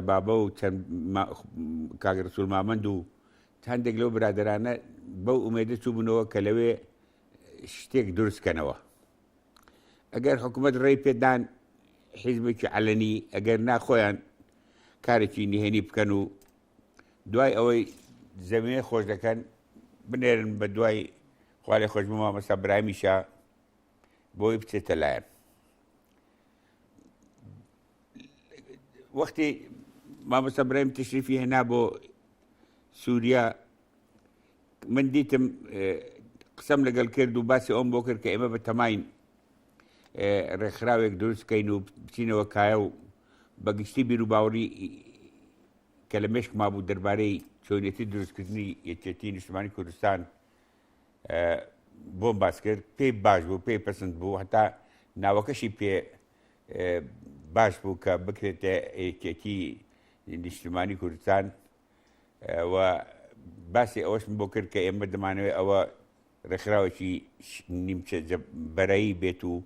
بابە و چەند ما کاک رسول مامەند و هەندێک لەو برادەرانە بەو ئومێدە چووبنەوە کە لەوێ شتێک دروست کەنەوە ئەگەر حکوومەت ڕێی پێدان حیزبێکی عەلەنی ئەگەر ناخۆیان کارێکی نهێنی بکەن و دوای ئەوەی زەویێ خۆش دەکەن بنێرن بە دوای خوارێ خۆش بما مەسا برامیشە بۆی بچێتە لایەن وەختی مامۆستا برایم تشریفی هێنا بۆ سووریا من دیتم قسەم لەگەڵ کرد و باسی ئەوم بۆ کرد کە ئێمە بە تەماین ڕێکخراوێک دروستکەین و بچینەوە کایە و بەگشتی بیر و باوەڕی کە لە مشک ما بوو دەربارەی چۆنێتی دروستکردنی یەکێتی نیشتمانی کوردستان بۆم باس کرد پێی باش بوو پێی پسند بوو هەتا ناوەکەشی پێ باش بوو کە بکرێتە یەکێتی نیشتمانی کوردستان و باسی ئەوەشم بۆ کرد کە ئێمە دەمانەوەی ئەوە ڕێکخراوێکی نیمچە بەرایی بێت و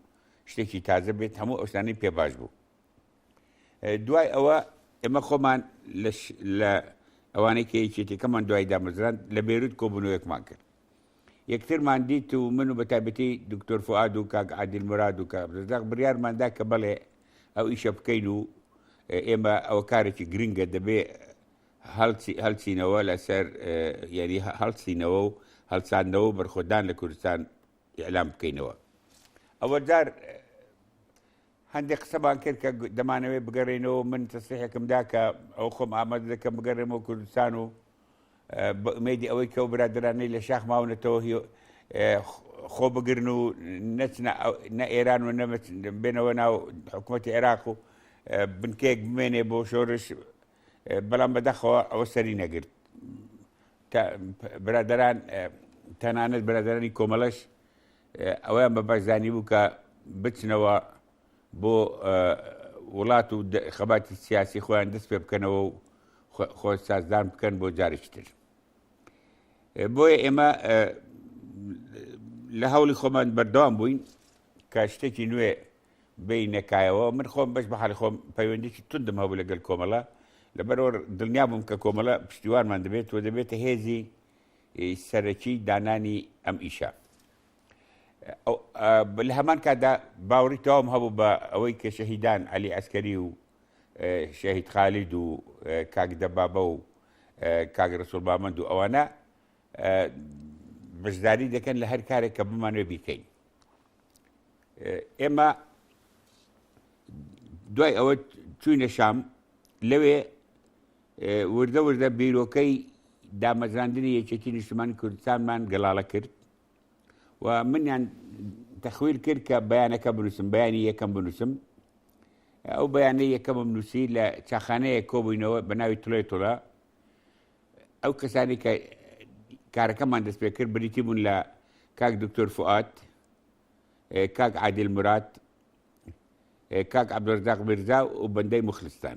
شتێکی تازە بێت هەموو ئەوسانەی پێ باش بوو دوای ئەوە ئێمە خۆمان لە ئەوانەی کە یەکێتەکەمان دوای دامەزران لە بێروت کۆبوونەوەیەکمان کرد یەکترمان دیت و من و بە تایبەتی دکتۆر فوئاد و کاک عادل مراد و کاک عبدالرزاق بڕیارمان دا کە بەڵێ ئەو ئیشە بکەین و ئێمە ئەوە کارێکی گرنگە دەبێ هەڵچی- هەڵچینەوە لەسەر اه، یانی هە- هەڵچینەوە و هەڵچاندنەوە و بەرخۆدان لە کوردستان ئیعلام بکەینەوە. ئەوە جار هەندێک قسەمان کرد کە دەمانەوێت بگەڕێینەوە، من تەسریحێکم دا کە ئەوە خۆم ئامادە دەکەم بگەڕێمەوە کوردستان و بە ئومێدی ئەوەی کە ئەو برادەرانەی لە شاخ ماونەتەوە خۆ بگرن و نەچنە نە ئێران و بێنەوە ناو حکوومەتی عێراق و بنکەیەک بمێنێ بۆ شۆرش بەڵام بەدەخەوە ئەوە سەری نەگرت برادران تەنانەت برادرانی کۆمەڵەش ئەوەیان بە باش زانیبوو کە بچنەوە بۆ وڵات و خەباتی سیاسی خۆیان دەست پێ بکەنەوە و خۆی سازدان بکەن بۆ جارێکی تر بۆیە ئێمە لە هەوڵی خۆمان بەردەوام بووین کە شتێکی نوێ بینەکایەوە من خۆم بەش بە حالی خۆم پەیوەندیکی تودم هەبوو لەگەل کۆمەڵە لەبەرەوە دڵنیا بووم کە کۆمەڵە پشتیوانمان دەبێت و دەبێتە هێزی سەرەکی دانانی ئەم ئیشە لە هەمان کادا باوەڕی تەواوم هەبوو بە ئەوەی کە شەهیدان علی ئەسکەری و شەهید خالید و کاک دەبابە و کاک ڕسول بامەند و ئەوانە بەشداری دەکەن لە هەر کارێک کە بمانوێ بیکەین ئێمە دوای ئەوە چوینە شام لەوێ وردە وردە بیرۆکەی دامەزراندنی یەکێتی نیشتمانی کوردستانمان گەڵاڵە کرد و منیان تەخویر کرد کە بەیانەکە بنووسم بەیانی یەکەم بنووسم ئەو بەیانەی یەکەمم نووسی لە چاخانەیە کۆبووینەوە بە ناوی تڵێ تۆڵە ئەو کەسانی کە کارەکەمان دەست پێ کرد بریتی بوون لە کاک دکتۆر فعات کاک عادل مرات کاک عبدۆزداق برزا و بەندەی مخلستان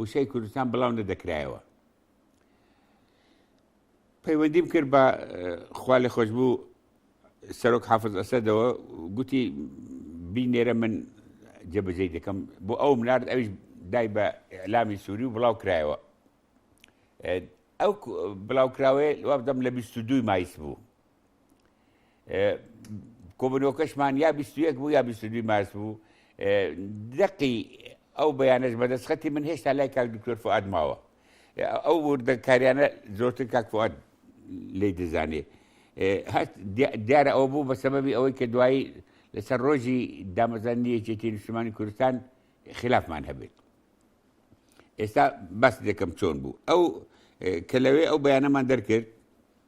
وشەی کوردستان بڵاو نەدەکرایەوە پەیوەندیم کرد بە خوا لە خۆش بوو سەرۆک حافظ ئەسەدەوە گوتی بینێرە من جێبەجێ دەکەم بۆ ئەو منارد ئەویش دای بە ئەلامی سووری و بڵاو کرایەوە ئەو بڵاوکراوەیە وابدەم لە 22 مایس بوو کۆبنەوەکەشمان یا 21 بوو یا 22 مارس بوو دقی ئەو بەیانەش بەدەستخەتی من هێشتا لای کاک دکتۆر فعاد ماوە ئەو وردەکاریانە زۆرتر کاک فعاد لی دەزانێ هەست دیارە ئەو بوو بە سەبەبی ئەوەی کە دوایی لەسەر ڕۆژی دامەزانی یەکێتی نیشتمانی کوردستان خلافمان هەبێت ئێستا بەس دەکەم چۆن بوو ئەو کە لەوێ ئەو بەیانەمان دەرکرد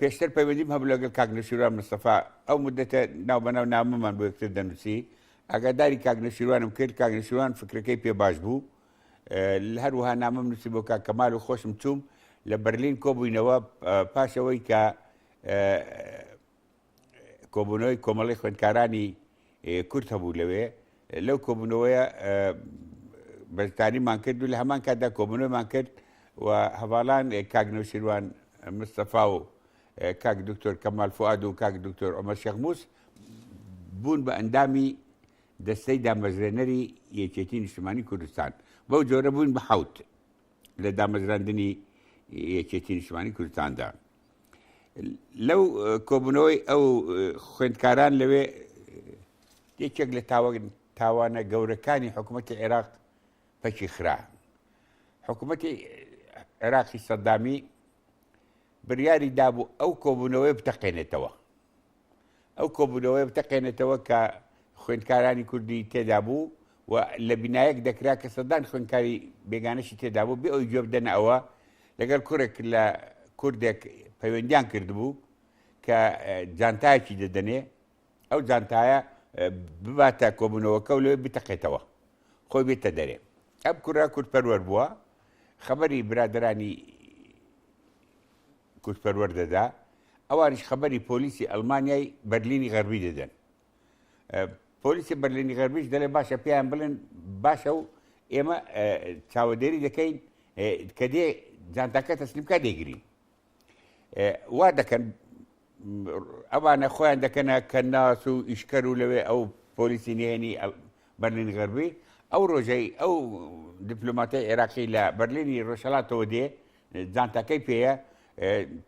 پێشتر پەیوەندیم هەبوو لەگەڵ کاک نەشیروان مستەفا ئەو مدەتە ناو بەناو نامەمان بۆ یەکتر دەنووسی ئاگاداری کاک نەشیروانم کرد کاک نەشیروان فکرەکەی پێ باش بوو هەروها نامەم نووسی بۆ کاک کەمال و خۆشم چووم لە بەرلین کۆبووینەوە پاشەوەی کە کۆبوونەوەی کۆمەڵی خوێندکارانی کورت هەبوو لەوێ لەو کۆبوونەوەیە بەرتانیمان کرد و لە هەمان کاتدا کۆبوونەوەمان کرد و هەواڵان کاگنەوشیروان مستەفا و کاک دکتۆر کەمال فعاد و کاک دکتۆر ئەمە شەخموس بوون بە ئەندامی دەستەی دامەزرێنەری یەکێتی نیشتمانی کوردستان بەو جۆرە بوون بە حوت لە دامەزراندنی یەکێتی نیشتمانی کوردستاندا لەو کۆبوونەوەی ئەو خوێندکاران لەوێ یەکێک لە تاوانە گەورەکانی حکوومەتی عێراق پەکی خرا حکوومەتی عێراقی سەدامی بریاری دابوو ئەو کۆبوونەوەی بتەقێنێتەوە ئەو کۆبوونەوەیە بتەقێنێتەوە کە خوێندکارانی کوردی تێدا بوو و لە بینایەک دەکرا کە سەدان خوێندکاری بێگانەشی تێدا بوو بێ ئەوی گوێ بدەنە ئەوە لەگەر کوڕێک لە کوردێک پەیوەندیان کردبوو کە جانتایەکی دەدەنێ ئەو جانتایە بباتە کۆبوونەوەکە و لەوێ بتەقێتەوە خۆی بێتە دەرێ ئەم کوڕە کورد پەروەەر بووە خەبەری برادرانی کوردپەروەر دەدا، ئەوانیش خەبەری پۆلیسی ئەڵمانیای بەرلینی غەربی دەدەن. پۆلیسی بەرلینی غەربیش دەڵێ باشە پێیان بڵێن باشە و ئێمە چاوەدێری دەکەین کە دێ جانتاکە تەسلیمکە دەگرین. وا دەکەن ئەوانە خۆیان دەکەنە کە ناس و ئیشکەر و لەوێ ئەو پۆلیسی نێنی بەرلین غەربی ئەو ڕۆژەی ئەو دیپلوماتی عێراقی لە بەرلینی ڕۆژهڵاتەوە دێ جانتاکەی پێیە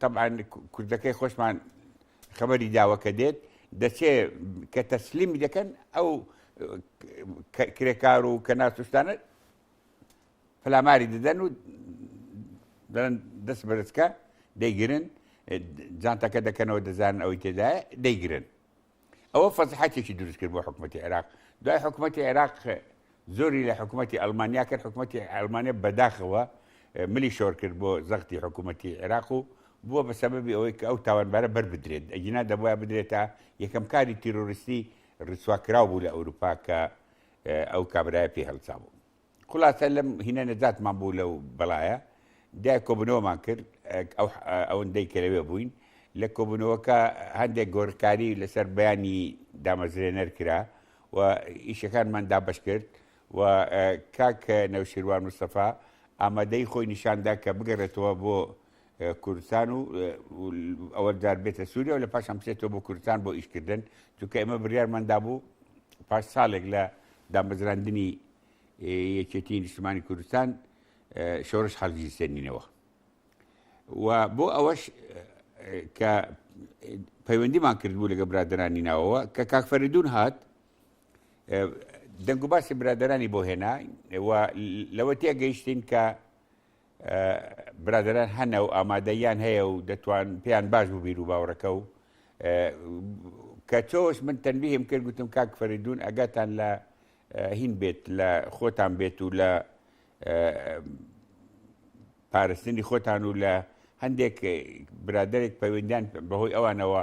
تەبعەن کوردەکەی خۆشمان خەبەری داوە کە دێت دەچێ کە تەسلیمی دەکەن ئەو کرێکار و کە ناسوشتانە پلاماری دەدەن و دەن دەست بەرزکە دەیگرن جانتاکە دەکەنەوە دەزانن ئەوەی تێدایە دەیگرن ئەوە فەزحەتێکی دروست کرد بۆ حکوومەتی عێراق دوای حکوومەتی عێراق زۆری لە حکوومەتی ئەلمانیا کرد حکوومەتی ئەلمانیا بەداخەوە ملی شۆر کرد بۆ زەختی حکوومەتی عێراق و بووە بە سەبەبی ئەوەی کە ئەو تاوانبارە بەر بدرێت ئەگینا دەبواە بدرێتە یەکەم کاری تیرۆریستی ڕیسواکرااو بوو لە ئەوروپا کە ئەو کابراای پێ هەڵسا بوو خولاسە لەم هینە نەجاتمان بوو لەو بەڵایە دای کۆبنەوەمان کرد ئەوەندەی کە لەوێ بووین لە کۆبنەوەکە هەندێک گۆرکاری لەسەر بەیانی دامەزرێنەر کرا و ئیشەکانمان دابش کرد و کاک نەوشیروان مستەفا ئامادەی خۆی نیشاندا کە بگەڕێتەوە بۆ کوردستان و ئەوە دار بێتە سووریا و لە پاشان بچێتەوە بۆ کوردستان بۆ ئیشکردن چونکە ئێمە بڕیارماندا بوو پاش ساڵێک لە دامەزراندنی یەکێتی نیشتمانی کوردستان شۆرش خەڵکی سێنینەوە و بۆ ئەوەش کە پەیوەندیمان کردبوو لەگە برادرانی ناوەوە کە کاکفەردون هات دەنگ و باسی برادرانی بۆ هێنا لەوە تێگەیشتین کە برادەران هەنە و ئامادەیان هەیە و دەتوان پێیان باش بوو بیر و باوڕەکە و کە تۆش من تەنبیهم کرد گوتم کاک فەریدون ئەگاتان لە هین بێت لە خۆتان بێت و لە پارستنی خۆتان و لە هەندێک برادێک پەیوەندیان بەهۆی ئەوانەوە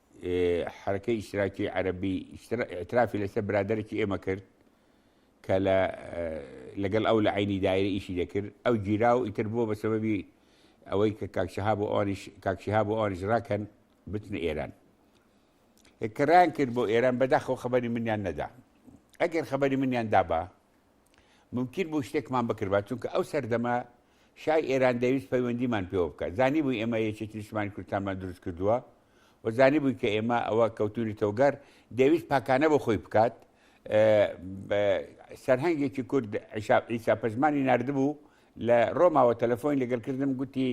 حرەکەی ئیشتراکی عەربی ئترافی لەسەر برادێکی ئێمە کرد کە لە لەگەڵ ئەو لە عینی دایرە ئیشی دەکرد ئەو گیرا و ئیتر بووە بە سەبەبی ئەوەی کە کاکشها بۆ ئەوانیش کاکشها بۆ ئەوانیش ڕاکەن بچنە ئێران کەڕان کرد بۆ ئێران بەداخەوە خبری منیان نەدا ئەگەر خبری منیان دابا مومکین بوو شتێکمان بکردبا، چونکە ئەو سەردەمە شای ئێران دەیویست پەیوەندیمان پێوە بکات، زانیبووی ئێمە یەکێتی نیشتمانی کوردستانمان دروست کردووە و زانیبووی کە ئێمە ئەوە کەوتوونەتەوە گەڕ، دەیویست پاکانە بۆ خۆی بکات، سەرهەنگێکی کورد عیسا پەژمانی ناردبوو لە ڕۆماوە تەلەفۆنی لەگەڵ کردم گوتی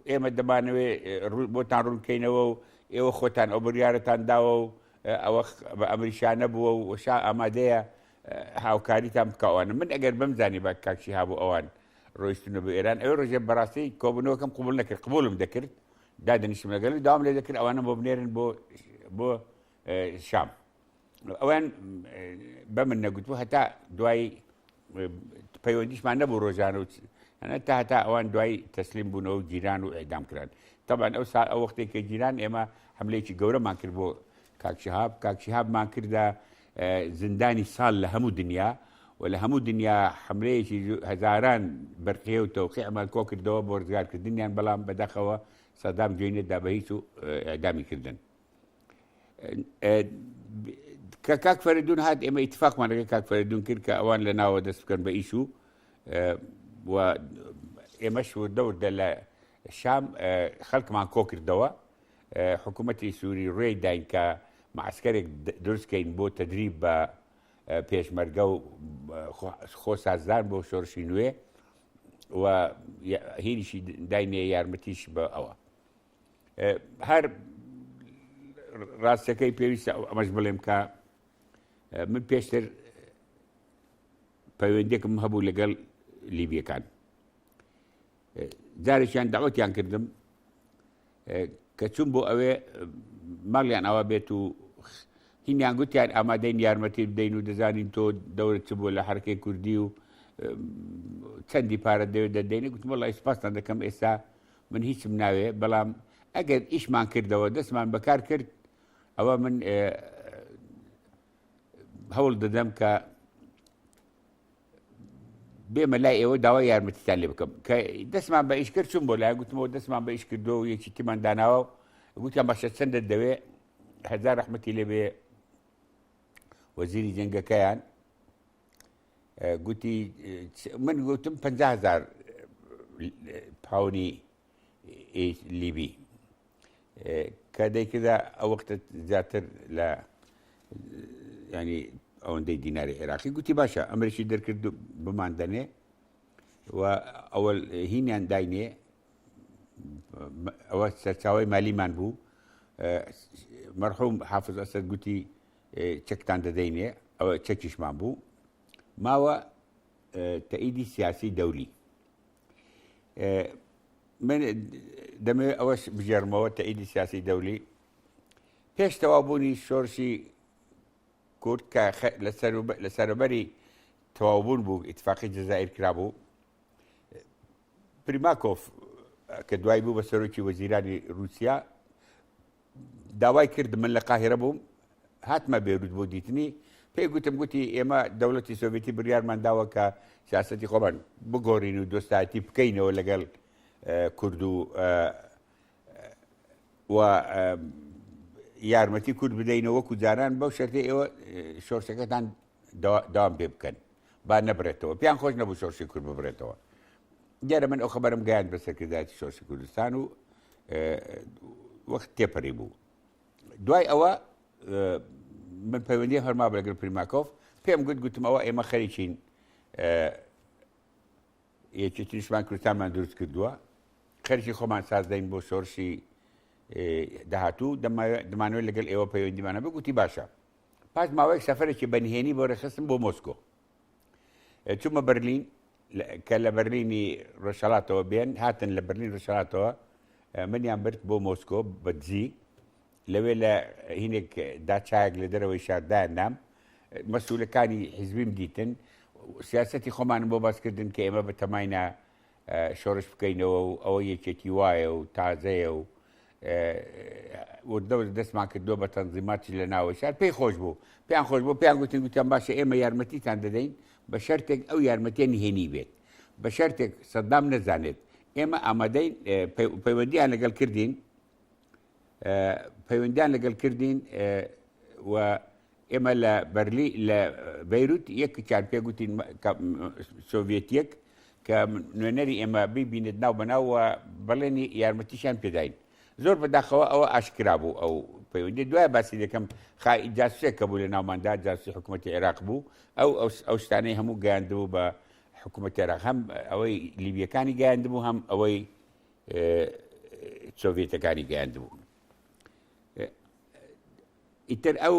ئێمە دەمانەوێ بۆتان ڕوونکەینەوە و ئێوە خۆتان ئەو بڕیارەتان داوە و ئەوە بە ئەمریشانە بووە و شا ئامادەیە هاوکاریتان بکەوانە من ئەگەر بم زانی بە کاکشی هابوو ئەوان ڕۆیشتنە بە ئێران ئەوێ ڕژێ بەڕاستی کۆبنەوەکەم قوبول نەکرد قبولم دەکرد دادنیشم لەگەل و داوام لێ دەکرد ئەوانە بۆ بنێرن بۆ بۆ شام ئەویان بە من نەگوتو هەتا دوایی پەیوەندیشمان نەبوو ڕۆژانە و تا هەتا ئەوان دوای تەسلیم بوونەوە گیران و ئەدام کران تەبعەن ئەو سا ئەو وەختێک کە گیران ئێمە حملەیەکی گەورەمان کرد بۆ کاک شهاب کاک شهابمان کردە زندانی ساڵ لە هەموو دنیا و لە هەموو دنیا حملەیەکی هەزاران بەرقیە و تەوقیعمان کۆ کردەوە بۆ ڕزگارکردنیان بەڵام بەدەخەوە سەدام جوێنێ دا بە هیچ و ئەدامی کردن کە کاک فەردون هاات ئێمە اتفاقمان لەگە کاک فەردون کرد کە ئەوان لە ناوە دەست بکەن بە ئیش و ئێمەش وردەوردە لە شام خەلکمان کۆکردەوە حکومەتی سوری روێی داین کە معسکەرێک دروستکەین بۆ تدریب بە پێشمەرگە و خۆ سازدان بۆ شۆرشی نوێ و هینیشی داینێ یارمەتیش بە ئەوە هەر ڕاستەکەی پێویستە ئەو ئەمەش بڵێم کە من پێشتر پەیوەندێکم هەبوو لەگەڵ لیبیەکان جارێکیان داوەتیان کردم کە چون بۆ ئەوێ ماڵیان ئاوا بێت و هینیان گوتیان ئامادەین یارمەتی بدەین و دەزانین تۆ دەورت چ بووە لە حرکەی کوردی و چەندی پارە دەوێت دەدەینە گوتم لای سپاسان دەکەم ئێستا من هیچم ناوێ بەڵام ئەگەر ئیشمان کردەوە دەستمان بەکار کرد ئەوە من هەوڵ دەدەم کە بێمە لای ئێوە داوا یارمەتیتان لێ بکەم کە دەستمان بە ئیش کرد چون بۆ لای گوتمەوە دەستمان بە ئیش کردو و یەکی تیمان داناوە گوتیان باشە چەندە دەوێ هەزار رحمەتی لێبێ وەزیری جنگەکەیان گوتی من گوتم 500هزار پاونی لیبی کە دەیکردا ئەو وەختە زیاتر لە ینی ئەوەندەی دیناری عێراقی گوتی باشە ئەمریکی دەرکرد بمان دەنێ و ئەوە هینیان داینێ ئەوە سەرچاوی مالیمان بوو مەرحوم حافظ ئەسەر گوتی چەکتان دەدەینێ ئەوە چەکیشمان بوو ماوە تەئیدی سیاسی دەولی من دەمەوێت ئەوەش بژێرمەوە تەئیدی سیاسی دەولی پێش تەوابوونی شۆرشی کورد کە لە سەربەری تەواوبوون بوو ئیتفاقی جززائیر کرابوو پریماکۆف کە دوای بوو بە سەرۆکی وەزیرانی رووسیا داوای کرد من لە قاهیرە بووم هاتمە بێروت بۆ دیتنی پێی گوتم گوتی ئێمە دەوڵەتی سۆڤێتی بڕیارمان داوە کە سیاستی خۆمان بگۆڕین و دۆستایەتی بکەینەوە لەگەڵ کورد و و یارمەتی کورد بدەینە وەکو جاران بەو شەرتی ئێوە شۆرشەکەتان داوام پێ بکەن با نەبرێتەوە پیان خۆش نەبوو شۆرشی کورد ببرێتەوە دیارە من ئەو خەبەرم گەیاند بە سەرکردایەتی سۆسی کوردستان و وەخت تێپەری بوو دوای ئەوە من پەیوەندی هەرما بەگەر پریماکۆف پێم گوت گوتم ئەوە ئێمە خەریکین یەکی تریشمان کوردستانمان دروست کردووە خەرکی خۆمان سازدەین بۆ شۆرشی داهاتوو دەمانوێت لەگەل ئێوە پەیوەندیمانە بگوتی باشە پاش ماوەیەک سەفرێکی بەنهێنی بۆ رێخستم بۆ مۆسکۆ چوومە بەرلین کە لە بەرلینی ڕۆژهڵاتەوە بێن هاتن لە بەرلین ڕژهاتەوە منیان برد بۆ مۆسکۆ بەدزی لەوێ لە هینێک داچایەک لە دەرەوەی شاردایان نام مەسوولەکانی حیزبیم دیتن سیاستی خۆمان بۆ باسکردن کە ئێمە بە تەماینا شۆرش بکەینەوە و ئەوە یەکێتی وایە و تازەیە و وردەور دەستمان کردووە بە تەنزیماتی لە ناوە شار پێی خۆش بوو پێیان خۆش بۆ پێیان گوتن گوتیان باشە ئێمە یارمەتیتان دەدەین بە شەرتێک ئەو یارمەتیە نهێنی بێت بە شەرتێک سەدام نەزانێت ئێمە ئامادەین پەیوەندیان لەگەڵ کردین پەیوەندیان لەگەڵ کردین و ئێمە لە بەرلی لە بەیروت یەکێکیان پێگوتین سۆڤێتیەک کە نوێنەری ئێمە ببینێت ناو بەناوە بەڵێنی یارمەتیشان پێداین زۆر بەداخەوە ئەوە ئاشکرا بوو ئەو پەیوەندی دوای باسی دەکەم خای جاسێک کە بوو لە ناوماندا جاسی حکوومەتتی عێراق بوو ئەو ئەو شتانەی هەموو گەیاندبوو بە حکوومەت عێراق هەم ئەوەی لیبیەکانی گەیاندبوو هەم ئەوەی سۆڤێتەکانی گەیاندبوو ئیتر ئەو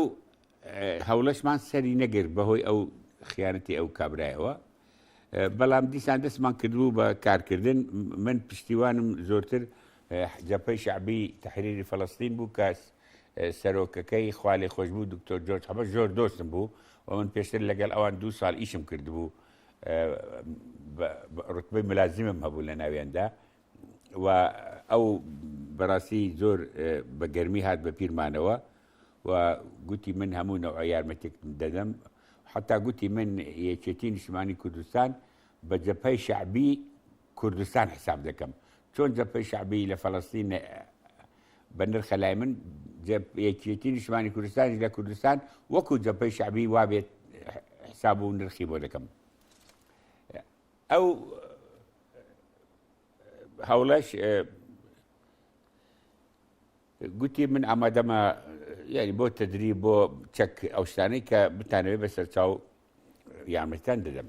هەوڵەشمان سەری نەگر بەهۆی ئەو خیانەتی ئەو کابرایەوە بەڵام دیسان دەستمان کردبوو بە کارکردن من پشتیوانم زۆرتر جەپەی شعبی تحریری فلستین بوو کەس سەرۆکەکەی خوالێ خۆش بوو دکتۆر جۆرج حەبە زۆر دۆستم بوو و من پێشتر لەگەڵ ئەوان دو ساڵ ئیشم کردبوو ڕوتبەی ملازمم هەبوو لە ناوێندا و ئەو بەڕاستی زۆر بە گەرمی هات بە پیرمانەوە و گوتی من هەموو نەوە یارمەتێک دەدەم حتا گوتی من یەکێتی نیشتمانی کوردستان بە جەپای شعبی کوردستان حساب دەکەم چۆن جەبهەی شەعبی لە فەلەستین بە نرخە لای من یەکێتی نیشتمانی کوردستانیش لە کوردستان وەکو جەبهەی شەعبی وابێت حساب و نرخی بۆ دەکەم ئەو هەوڵەش گوتی من ئامادەمە یاری بۆ تدری بۆ چەک ئەو شتانەی کە بتانەوێت بە سەرچاو یارمەتان دەدەم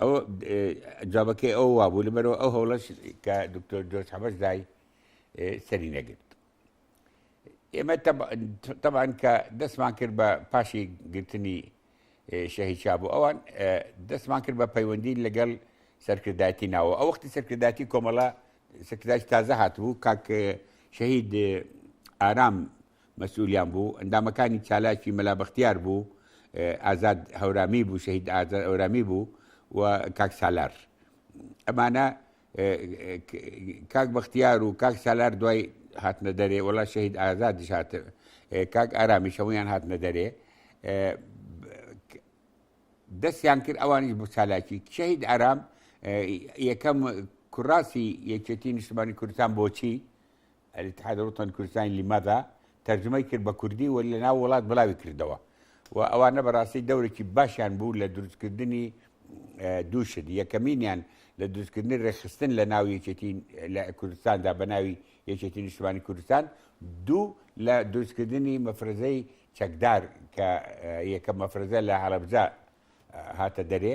ئەو جوابەکەی ئەو وابوو لەبەرەوە ئەو هەوڵەش کە دکتۆر جۆش حەبەش دای سەری نەگرت ئێمە تەبان کە دەستمان کرد بە پاشی گرتنی شەهید شاب و ئەوان دەستمان کرد بە پەیوەندی لەگەڵ سەرکردایەتی ناوە ئەو وەختی سەرکردایەتی کۆمەڵە سەکرداش تازە هاتبوو کاک شەهید ئارام مەسئولیان بوو، ئەندامەکانی چالاکی مەلا بەختیار بوو، ئازاد هەورامی بوو، شەهید ئازاد هەورامی بوو و کاک سالار. ئەمانە کاک بەختیار و کاک سالار دوای هاتنە دەرێ، وەڵا شەهید ئازادیش هات، کاک ئارامیش هەموویان هاتنە دەرێ. دەستیان کرد ئەوانیش بۆ چالاکی. شەهید ئارام یەکەم کوراسی یەکێتی نیشتمانی کوردستان بۆچی؟ الاتحاد الوطنی کوردستانی لماذا تەرجومەی کرد بە کوردی و لە ناو وڵات بڵاوی کردەوە و ئەوانە بەڕاستی دەورێکی باشیان بوو لە دروستکردنی دوو شت یەکەمینیان لە دروستکردنی ڕێخستن لە ناو یەکێتی لە کوردستاندا بە ناوی یەکێتی نیشتمانی کوردستان دوو لە دروستکردنی مەفرەزەی چەکدار کە یەکە مەفرەزە لە هەڵەبزە هاتە دەرێ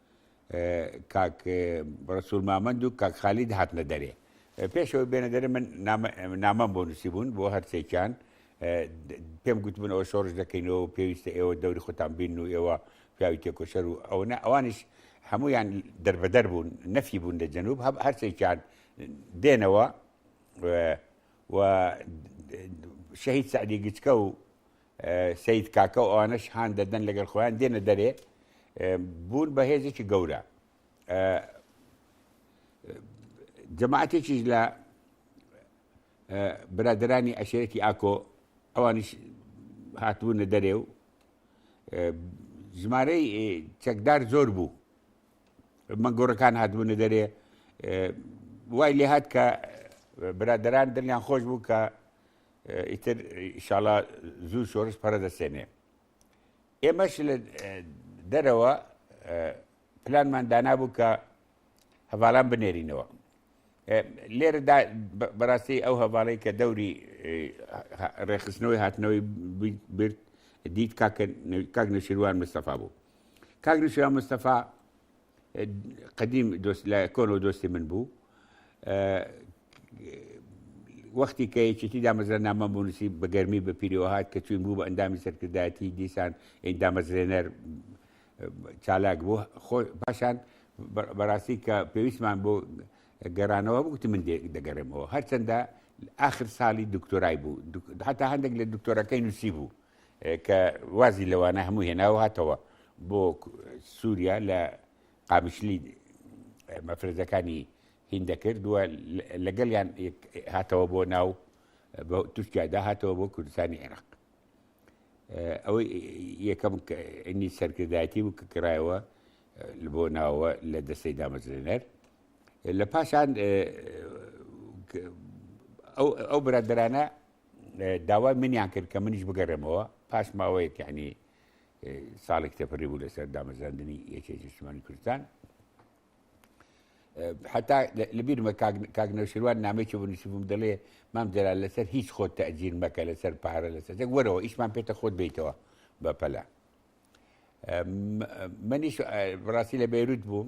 کاک ڕسول مامەند و کاک خالید هاتنە دەرێ پێشەوە بێنە دەرێ من نامەم بۆ نووسی بوون بۆ هەرسێکیان پێم گوتبوون ئەوە شۆڕش دەکەینەوە پێویستە ئێوە دەوری خۆتان بین و ئێوە پیاوی تێکۆشەر و ئەوەنە ئەوانش هەمویان دەربەدەر بوون نەفی بوون لە جەنوب هەب هەرسێکیان دێنەوە و شەهید سعدی گچکە و سەید کاکە و ئەوانەش هان دەدەن لەگەر خۆیان دێنە دەرێ بوون بە هێزێکی گەورە جەماعاتێکیش لە برادرانی ئەشێرەی ئاکۆ ئەوانیش هاتبوونە دەرێ و ژمارەی چەکدار زۆر بوو مەگۆڕەکان هاتبوونە دەرێ وای لێهات کە برادران دڵیان خۆش بوو کە ئیتر ئیشاڵا زوو شۆرش پەرە دەسێنێ ئێمەش لە دەرەوە پلانمان دانابوو کە هەواڵان بنێرینەوە لێرەدا بەڕاستی ئەو هەواڵی کە دەوری ڕێخستنەوەی هاتنەوەی برد دیت کاک نشیروان مستەفا بوو کاک نشیروان مستەفا قدیم لە کۆن و دۆستی من بوو وەختی کە یەکێتی دامەزرا نامە بونوسی بە گەرمی بە پیرەوە هاات کە چوین بوو بە ئەندامی سەرکردایەتی دیسان دامەزرێنەر چالاک بوو خۆ پاشان بەڕاستی کە پێویستمان بۆ گەرانەوە بگوتی من دەگەڕێمەوە هەرچەندە آخر ساڵی دکتۆرای بوو حتا هەندێک لە دکتۆرەکەی نووسی بوو کە وازی لەوانە هەموو هێناو هاتەوە بۆ سووریا لە قامیشلی مەفرەزەکانی هین دەکرد و لەگەڵیان هاتەوە بۆ ناو تورکیادا هاتەوە بۆ کوردستانی عێراق ئەوەی یەکەم ئەنی سەرکردایەتی و کە کرایەوە بۆ ناوە لە دەستەی دامەزرێنەر لە پاشان ئەو برادرانە داوای منیان کرد کە منیش بگەڕێمەوە پاش ماوەیەک یعنی ساڵێک تێپەری بوو لەسەر دامەزراندنی یەکێک نیشتمانی کوردستان حتا لەبیرمە کاگنەوشیروان نامێکی بۆ نووسبووم دەڵێ مام جەلا لەسەر هیچ خۆت تەجیر مەکە لەسەر پارە لەسەر وەرەوە ئیشمان پێتە خۆت بیتەوە بە پەلا منیش بڕاستی لە بێروت بووم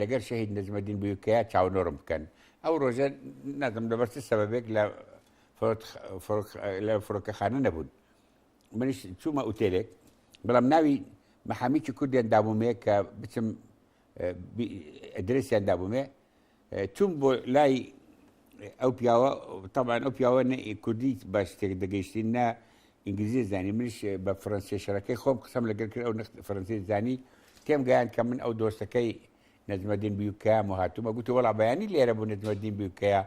لەگەر شەهید نەجمەدین بویکەیا چاونۆرم بکەن ئەو ڕۆژە نازم لەبەر چ سەبەبێک لە لە فڕۆکەخانە نەبوون منیش چوومە ئوتێلێک بەڵام ناوی محامیکی کوردیان دابوومێ کە بچم درسیان دابوومێ چووم بۆ لای ئەو پیاوە تەبان ئەو پیاوە نە کوردی بە شتێک دەگەیشتین نە ئینگلیزی زانی منش بە فەرەنسی شەرەکەی خۆم قسەم لەگەر کرد ئەو نخت فەرەنسی زانی تێم گەیان کە من ئەو دۆستەکەی نەزمەدین بیوکە و هاتوومە گوتی وڵا بەیانی لێرە بوو نەزمەدین بیوکەیە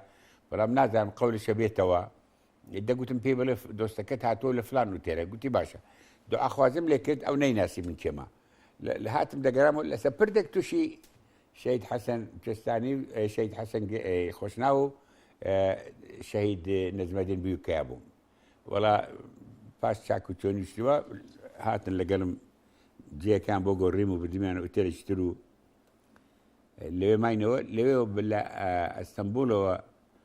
بەڵام نازانم قەولشە بێتەوە دەگوتم پێی بڵێ دۆستەکەت هاتووە لە فلان و تێرە گوتی باشە دو ئاخوازم لێ کرد ئەو نەیناسی من کێمە لە هاتم دەگەرام و لەسەر پردێک تووشی شەید حەسەن کوێستانی شەید حەسەن خۆشنا و شەهید نزمەدین بیوکەیا بووم وڵا پاش چاک و چۆنی شتوە هاتن لەگەڵم جێکان بۆ گۆڕیم و بدمیان و تێرەشتر و لەوێ ماینەوە لەوێ لە ئەستەمبولەوە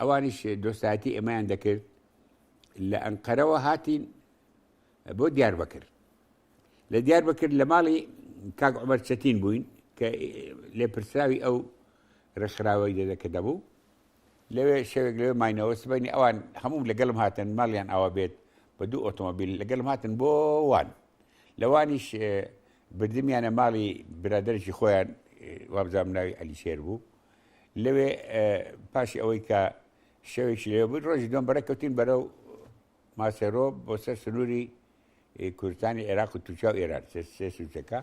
ئەوانیش دۆستایەتی ئێمەیان دەکرد لە ئەنقەرەوە هاتین بۆ دیار بەکرد لە دیار بەکرد لە ماڵی کاک عمر چەتین بووین کە لێپرسراوی ئەو ڕێکخراوەی دەدە کە دەبوو لەوێ شەوێک لەوێ ماینەوە سبینی ئەوان هەموو لەگەڵم هاتن ماڵیان ئاوا بێت بە دوو ئۆتۆمبیل لەگەڵم هاتن بۆ وان لەوانیش بردمیانە ماڵی برادێکی خۆیان وابزانام ناوی ئەلیشێر بوو لەوێ پاشی ئەوەی کە شەوێکی لەوێ بووین ڕۆژی دوم بەرە کەوتین بەرەو ماسێرۆ بۆ سەر سنووری کوردستانی عێراق و تووچا و ئێران سێ سوچەکە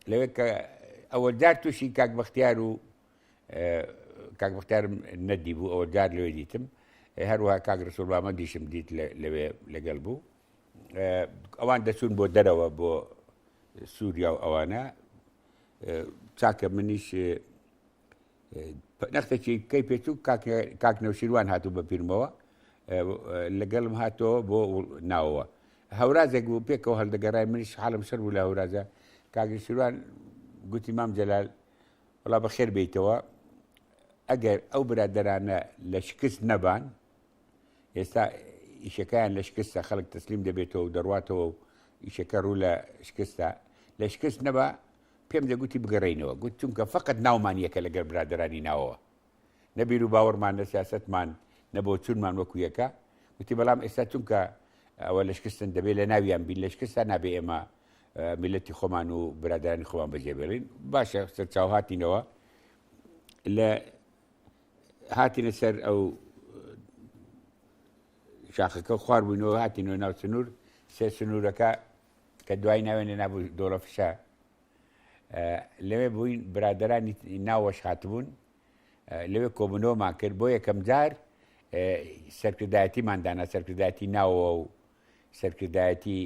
لەوێ کە ئەوە جار تووشی کاک بەختیار و کاک بەختارم نەدی بوو ئەوە جار لەوێ دیتم هەروها کاک ڕسوڵامە دیشم دیت لەوێ لەگەڵ بوو ئەوان دەچوون بۆ دەرەوە بۆ سووریا و ئەوانە چاکە منیش نەختێکی کەی پێچ و کاک نەوشیروان هاتوو بە پیرمەوە لەگەڵم هاتەوە بۆ ناوەوە هەورازێک بوو پێکەوە هەڵدەگەڕای منیش حالم شەر بوو لە هەورازە کاگەشیروان گوتی مام جەلال وڵا بە خێر بیتەوە ئەگەر ئەو برادرانە لە شکست نەبان ئێستا ئیشەکەیان لە شکستە خەڵک تەسلیم دەبێتەوە و دەڕاتەوە و ئیشەکە ڕوو لە شکستە لە شکست نەبا پێم دەگوتی بگەڕینەوە گوت چونکە فقط ناومان یەکە لەگەر برادرانی ناوەوە نەبیر و باوەڕمان نە سیاستمان نەبۆ چونمان وەکو یەکە وتی بەڵام ئێستا چونکە ئەوە لە شکستن دەبێت لە ناویان بین لە شکستا نابێ ئێمە میلەتی خۆمان و برادرانی خۆمان بەجێبێڵین باشە سەرچاوهاتینەوە لە هاتینە سەر ئەو شاخەکە و خوار بووینەوە هاتینەوە ناو سنوور سێ سنوورەکە کە دوای ناوێنە نابوو دۆڵە فشە لەوێ بووین برادرانی ناوەش هاتبوون لەوێ کۆبنەوەمان کرد بۆ یەکەم جار سەرکردایەتیماندانا سەرکردایەتی ناوەوە و سەرکردایەتی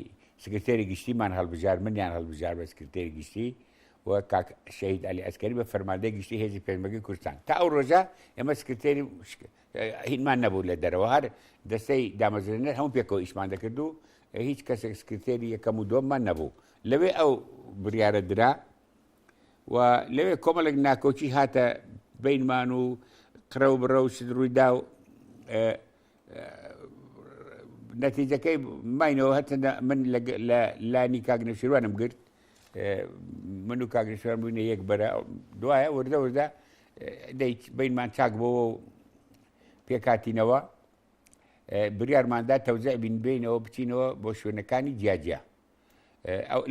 سکرتێری گشتیمان هەڵبژار منیان هەڵبژار بە سکرتێری گشتی و کاک شەهید علی ئەسکەری بە فەرماندەی گشتی هێزی پێشمەگەی کوردستان تا ئەو ڕۆژە ئێمە سکرتێری هینمان نەبوو لە دەرەوە هەر دەستەی دامەزرێنەر هەموو پێکەوە ئیشمان دەکرد و هیچ کەسێک سکرتێری یەکەم و دۆممان نەبوو لەوێ ئەو بڕیاە درا و لەوێ کۆمەڵێک ناکۆکی هاتە بینمان و قرە و بڕە و شت ڕوویدا و نەتیجەکەی ماینەوە هەتە من لە لانی کاگنەشیروانم گرت من و کاگنشوان بووینە یەک بەرە دوایە وردە وردە دەیت بینمان چاک بۆەوە و پێکاتینەوە بریارماندا تەوزع بین بینەوە بچینەوە بۆ شوێنەکانی جیاجیا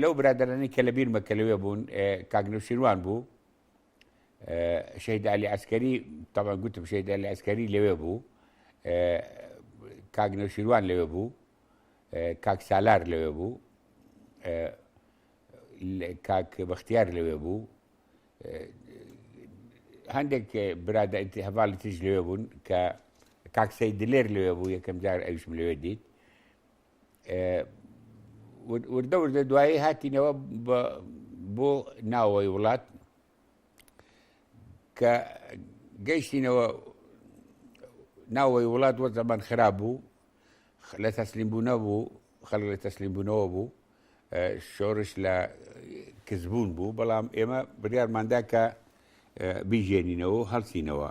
لەو برادرانی کە لە بیرمە کە لەوێ بوون کاگنەشیروان بوو شەید علی عسکەری تەڵە گوتم شەید علی عسکەری لەوێ بوو کاک نەوشیروان لەوێ بوو کاک سالار لەوێ بوو کاک بەختیار لەوێ بوو هەندێک برادە هەواڵی تریش لەوێ بوون کە کاکسەی دلێر لەوێ بوو یەکەم جار ئەویشم لەوێ دیت وردە وردە دوایی هاتینەوە بۆ ناوەوەی وڵات کە گەیشتینەوە ناوەوەی وڵات وە زەمان خراپ بوو لە تەسلیم بوونە بوو خەڵک لە تەسلیم بوونەوە بوو شۆرش لە کزبوون بوو بەڵام ئێمە بڕارماندا کە بیژێنینەوە هەڵسینەوە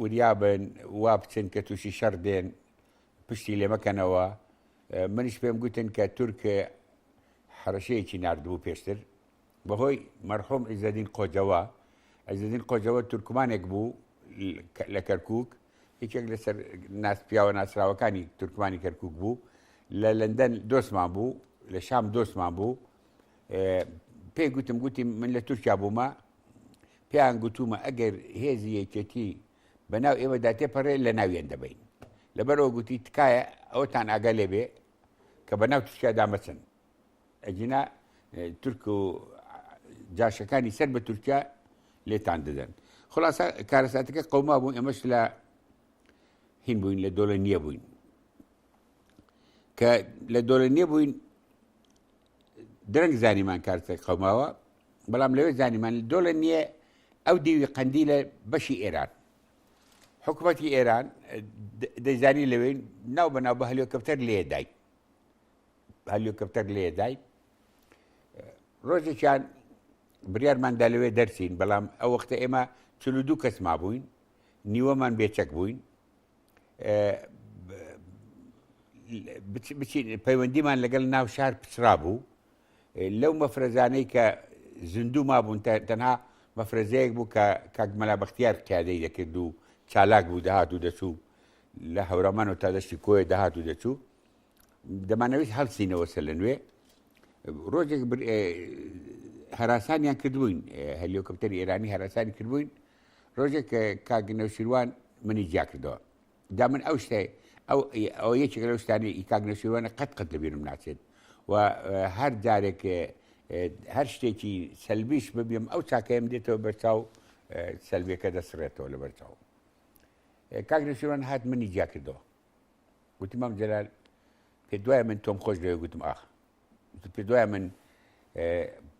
وریابن وا بچن کە تووشی شەڕ دێن پشتی لێمەکەنەوە منیش پێم گوتن کە تورک حرەشەیەکی نردبوو پێشتر بەهۆی مەرحوم عیزەدین قۆجەوە عیزەدین قۆجەوە تورکمانێک بوو لە کەرکک یەکێک لەسەر ناس پیاوە ناسراوەکانی تورکمانی کەرکک بوو لە لەندەن دۆستمان بوو لە شام دۆستمان بوو پێی گوتم گوتی من لە تورکیا بوومە پێیان گوتوومە ئەگەر هێزی یەکێتی بە ناو ئێمەدا تێپەڕێ لە ناویان دەبین لەبەرەوە گوتی تکایە ئەوەتان ئاگا لێبێ کە بە ناو تورکیادا مەچن ئەگینا تورک و جاشەکانی سەر بە تورکیا لێتان دەدەن خلاصە کارەساتەکە قەوما بوو ئێمەش لە هین بووین لە دۆڵە نییە بووین کە لە دۆڵە نییە بووین درەنگ زانیمان کارتێک قەوماوە بەڵام لەوێ زانیمان دۆڵێ نییە ئەو دیوی قەندی لە بەشی ئێران حکوومەتی ئێران دەیزانی لەوێ ناو بە ناو بە هەلیۆکەپتەر لێدای هەلیۆکەپتەر لێدای ڕۆژێکیان بریارماندا لەوێ دەرچین بەڵام ئەو وەختە ئێمە چلو دوو کەس مابووین نیوەمان بێچەک بووین پەیوەندیمان لەگەڵ ناو شار پچرا بوو لەو مەفرەزانەی کە زیندوو مابوون تەنها مەفرەزەیەک بوو کە کاکمەلا بەختیار قیادەی دەکرد و چالاک بوو دەهات و دەچوو لە هەورامان و تا دەستی کۆی دەهات و دەچوو دەمانەویست هەڵسینەوەسە لە نوێ ڕۆژێک هەراسانیان کردبووین هەلیۆکەپتەر ئێرانی هەراسانی کردبووین ڕۆژێک کاک نەوشیروان منی جیا کردەوە دا من ئەو شتێ ئەو ئەو یەکێک لەو شتانی ئی کاک نەوشیروانە قەت قەت لە بیرم ناچێت و هەر جارێک هەر شتێکی سەلبیش ببیم ئەو چاکەیەم دێتەوە بەرچاو سەلبیەکە دەسڕێتەوە لە بەرچاو کاک نەوشیروان هات منی جیا کردەوە گوتم مام جەلال پێ دوای من تۆم خۆش لەوێ گوتم ئاخ پێ دوای من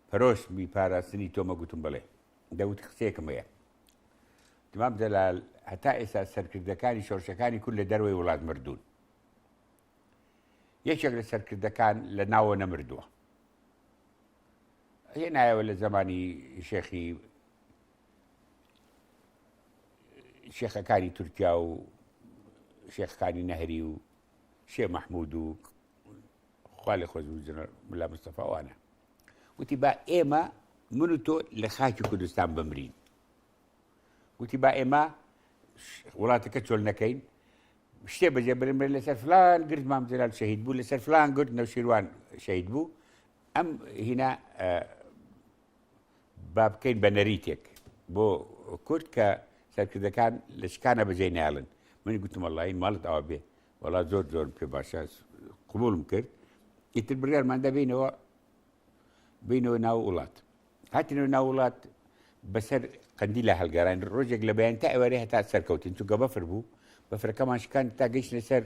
پەرۆش بی پاراستنی تۆمە گوتم بڵێ دەوت قسێکم هەیە دمام جەلال هەتا ئێستا سەرکردەکانی شۆرشەکانی کورد لە دەروەی وڵات مردوون یەکێک لە سەرکردەکان لە ناوە نەمردووە هێ نایەوە لە زمانی شێخی شێخەکانی تورکیا و شێخەکانی نەهری و شێ مەحمود و خوا لە خۆش ملا مستەفاوانە وتی با ئێمە من و تۆ لە خاکی کوردستان بمرین وتی با ئێمە وڵاتەکە چۆل نەکەین شتێ بەجێ برمرێ لەسەر فلان گرد مام جلال شەهید بوو لەسەر فلان گرد نەوشیروان شەید بوو ئەم هینا با بکەین بە نەریتێک بۆ کورد کە سەرکردەکان لە شکانە بەجێ ناڵن من گوتم اللهی ماڵت ئەوە بێ وەڵا زۆر زۆر پێ باشە قوبولم کرد ئیتر بڕارمان دەبینەوە بینەوە ناو وڵات هاتنەوە ناو وڵات بەسەر قەندی لە هەلگەران ڕۆژێک لە بەیان تا ئەوەێ هەتا سەرکەوتین چونکە بەفر بوو بەفرەکەمان شکان تا گەیشتە سەر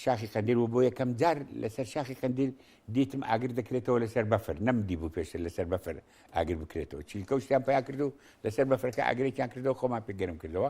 شاخی قندیل و بۆ یەکەم جار لەسەر شاخی قندیل دیتم ئاگر دەکرێتەوە لەسەر بەفر نەم دی بوو پێشە لەسەر بەفر ئاگر بکرێتەوە چیلکە شتیان پیا کرد و لەسەر بەفرەکە ئاگرێکیان کردەوە خۆمان پێگەرم کردەوە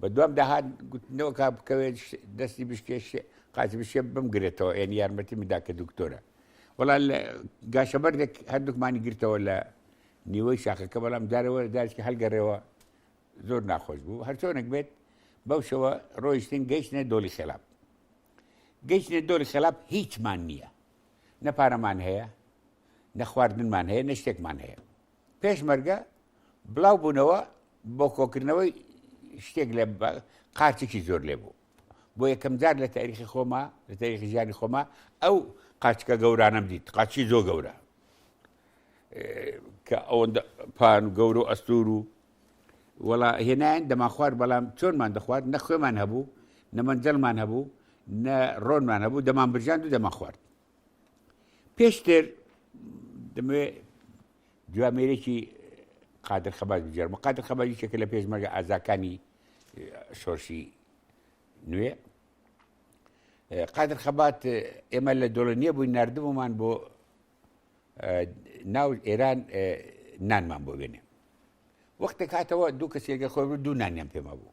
بە دوام داهات گوتنەوە کا بکەوێت دەستی بشکێش قاتی بشێ بمگرێتەوە ئێن یارمەتی مدا کە دکتۆرە وڵا لە گاشە بەردێک هەردووکمانی گرتەوە لە نیوەی شاخەکە بەڵام دارەوە دارکی هەلگەڕێەوە زۆر ناخۆش بوو هەرچۆنێک بێت بەو شەوە ڕۆیشتن گەیشتە دۆلی خێلاب گەیشتە دۆلی خێلاب هیچمان نییە نە پارەمان هەیە نە خواردنمان هەیە نە شتێکمان هەیە پێشمەرگە بڵاو بوونەوە بۆ کۆکردنەوەی شتێک لە قارچێکی زۆر لێ بوو بۆ یەکەم جار لە تاریخی خۆما لە تاریخی ژیانی خۆما ئەو قاچکە گەورانم دیت قاچی زۆ گەورە کە ئەوەندە پان و گەور و ئەستور و وەڵا هێنایان دەما خوارد بەڵام چۆنمان دەخوارد نە خوێمان هەبوو نەمەنجەلمان هەبوو نە ڕۆنمان هەبوو دەمان برژان و دەما خوارد پێشتر دەمەوێ جوامێرێکی قادر خەباز بجێرم قادر خەبازی چێکە لە پێشمەرگە ئازاکانی شۆرشی نوێ قادر خەبات ئێمە لە دۆڵنیە بووی نردبوومان بۆ ناو ئێران نانمان بۆ بێنێ وەختێک هاتەوە دوو کەسێکە خۆی دوو نانیان پێما بوو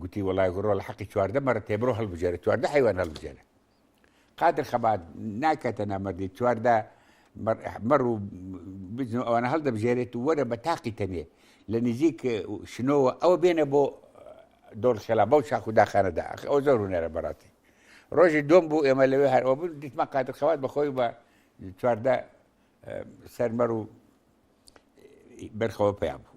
گوتی وڵای گوڕۆ لە حەقی چواردە مەڕە تێ بڕۆ هەڵبژێرە چواردە حیوان هەڵبژێرە قادر خەبات ناکاتە نامەردی چواردە مەڕ و بزن و ئەوانە هەڵدەبژێرێت و وەرە بە تاقی تەنێ لە نزیک شنەوە ئەوە بێنە بۆ دۆڵ خێلا بەو شاخ و داخانەدا ئەو زۆر هوەرە بەڕاستی ڕۆژی دۆم بوو ئێمە لەوێ هەرەوە بوو دیتمە قادر خەوات بەخۆی بە چواردە سەرمەڕ و بەرخەوە پیا بوو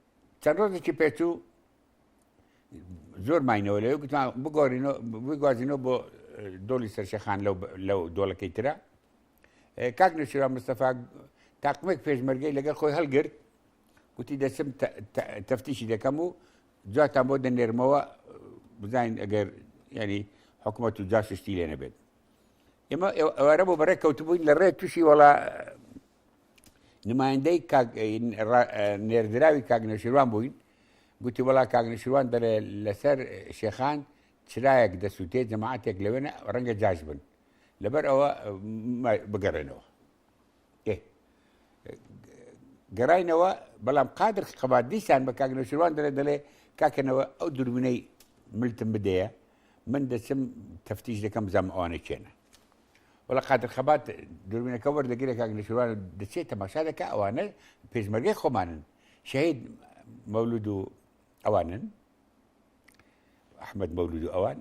چەند ڕۆژێکی پێچوو زۆر ماینەوە لەوێ گوتمان بگۆڕینەوە بگوازینەوە بۆ دۆڵی سەرشەخان لەو دۆڵەکەی ترە کاک نەشرا مستەفا تاقمێک پێشمەرگەی لەگەڵ خۆی هەڵگرت گوتی دەچم تەفتیشی دەکەم و جاتان بۆ دەنێرمەوە بزانین ئەگەر ینی حکوومەت و جاششتی لێ نەبێت ئێمە ئەوارە بۆ بەڕێ کەوتبووین لە ڕێ تووشی وڵا نمایندەی نێردراوی کاک نەشیروان بووین گوتی وڵا کاک نەشیروان دەڵێ لەسەر شێخان چرایەک دەسووتێ جەماعاتێک لەوێنە ڕەنگە جاش بن لەبەر ئەوە بگەڕێنەوە گەڕینەوە بەڵام قادر قەبات دیسان بە کاک نەشیروان دەڵێ دەڵێ کاکەنەوە ئەو دوربینەی ملتم بدەیە من دەچم تەفتیش دەکەم زەم ئەوانە چێنە وەڵا قادر خەبات دوربینەکە وەردەگرێ کاک نەشیروان و دەچێت تەماشا دەکا ئەوانە پێشمەرگەی خۆمانن شەهید مەولود و ئەوانن ئەحمد مەولود و ئەوان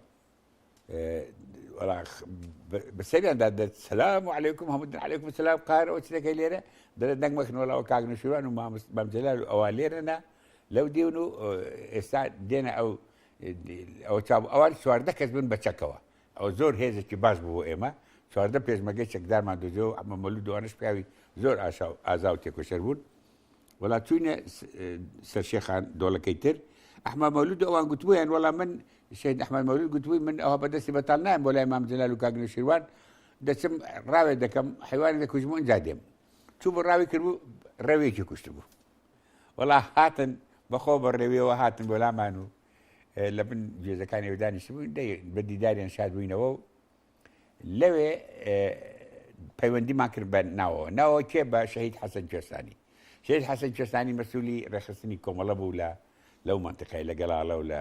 بەسەریاندا دەت سلام و علیکم هەمودن علیکم سلام قارەوە چلەکەی لێرە دەرە دەنگمەکن وەڵاوە کاک نەشیروان و مامجلال و ئەوان لێرەنا لەو دیون و ئێستا دێنە ئەو ئەوە چاو ئەوان چواردە کەس بن بە چەکەوە ئەوە زۆر هێزێکی باش بوو بۆ ئێمە، چواردە پێشمەرگەی چەکدارمان دۆزیەوە، ئەحمەد مەولود و ئەوانەش پیاوی زۆر ئاشا و ئازا و تێکۆشەر بوون. وەڵا چووینە سەر شێخان دۆڵەکەی تر، ئەحمەد مەولود و ئەوان گوتبوویان وەڵا من، شەهید ئەحمەد مەولود گوتبووی من ئەوها بە دەستی بەتاڵ نایەم بۆ لای مام جەلال و کاک نەوشیروان، دەچم ڕاوێ دەکەم، حەیوانێک دەکوژم و ئینجا دێم. چووبوو ڕاوی کردبوو، ڕێوێکی کوشتبوو. وەڵا هاتن بە خۆ بە ڕێویەوە هاتن بۆ لامان و لە بن گوێزەکانی و دانیشت بووین بە دیداریان شاد بووینەوە و لەوێ پەیوەندیمان کرد بە ناوە ناوە کێ بە شەهید حەسەن کوێستانی شێت حەسەن کوێستانی مەسوولی ڕێخستنی کۆمەڵە بوو لە لەو منتقای لە گەڵاڵە و لە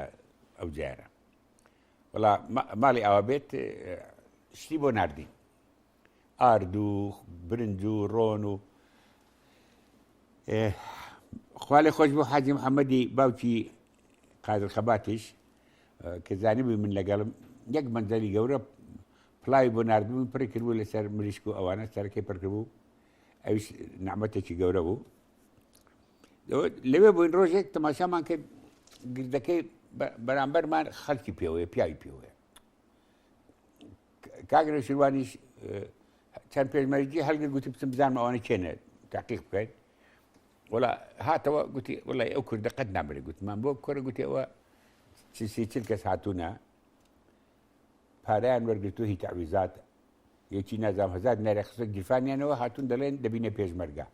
ئەو جارە وڵا ماڵی ئاوا بێت شتی بۆ نردین ئارد و برنج و ڕۆن و خوا لێ خۆش بۆ حاجی محەممەدی باوکی قادر خەباتیش کە زانیبووی من لەگەڵم یەک مەندەلی گەورە پلاوی بۆ نردبوون پڕی کردبوو لەسەر مریشک و ئەوانە سەرەکەی پڕکردبوو ئەویش نعممەتێکی گەورە بوو لەوێ بووین ڕۆژێک تەماشامان کرد گردەکەی بەرامبەرمان خەڵکی پێوەیە پیاوی پێوەیە کاک نەوشیروانیش چەند پێشمەرگی هەلگر گوتی بچم بزانم ئەوانە کێنێت تاقیق بکەین وڵا هاتەوە گوتی وڵی ئەو کوردە قەت نابێت گوتمان بۆ کۆرە گوتیەوە چسی چل کەس هاتوونە پاریان وەرگتو هی تعویزات یەکی نازام هزار نارە خستە گیرفانیانەوە هاتون دەڵێن دەبینە پێشمەرگە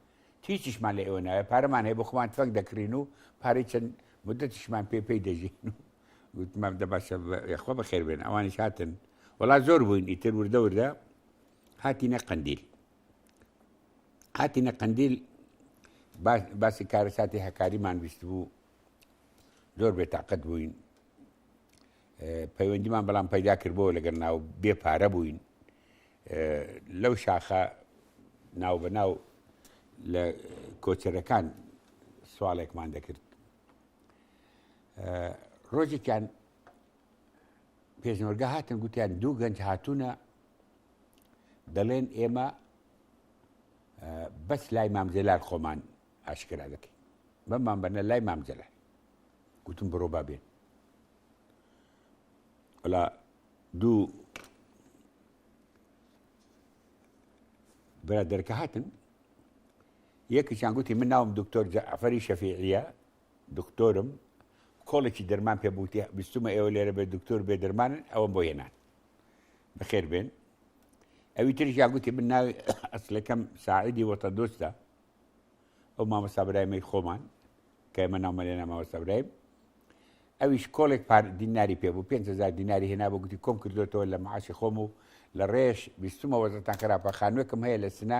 هیچیشمان لە ئێوە نایە پارەمان هەیە بۆ خۆمان تفەنگ دەکرین و پارەی چەند مدتشمان پێ پێی دەژین و گوتمم دە باشە یخوا بەخێر بێن ئەوانیش هاتن وڵا زۆر بووین ئیتر وردە وردە هاتینە قندیل هاتینە قندیل باسی کارە ساتی هەکاریمان ویست بوو زۆر بێتاقەت بووین پەیوەندیمان بەڵام پەیدا کردبووە لەگەر ناو بێ پارە بووین لەو شاخە ناو بە ناو لە کۆچەرەکان سوالێکمان دەکرد ڕۆژێکیان پێشنۆرگە هاتن گوتیان دوو گەنج هاتوونە دەڵێن ئێمە بەس لای مامجلال خۆمان ئاشکرا دەکەین بەمان بەنە لای مامجلال گوتم بڕۆ با بێن ئەلا دوو برادەرەکە هاتن یەکێکیان گوتی من ناوم دکتۆر جەعفەری شەفیعییە، دکتۆرم، کۆڵێکی دەرمان پێ بوو، گوتی بیستوومە ئێوە لێرە بێ دکتۆر و بێ دەرمانن، ئەوەم بۆ هێنان. بەخێر بێن. ئەوی تریشیان گوتی من ناوی ئەسلەکەم ساعیدی وەتەندۆستە، ئەو مامۆستا برایمەی خۆمان کە ئێمە ناومان لێ نا مامۆستا برایم، ئەویش کۆڵێک پار دیناری پێ بوو، پێنج هەزار دیناری هێنا بۆ گوتی کۆم کردووەتەوە لە معاشی خۆم و لە ڕێش بیستوومە وەزعتان خراپە، خانووێکم هەیە لە سنە،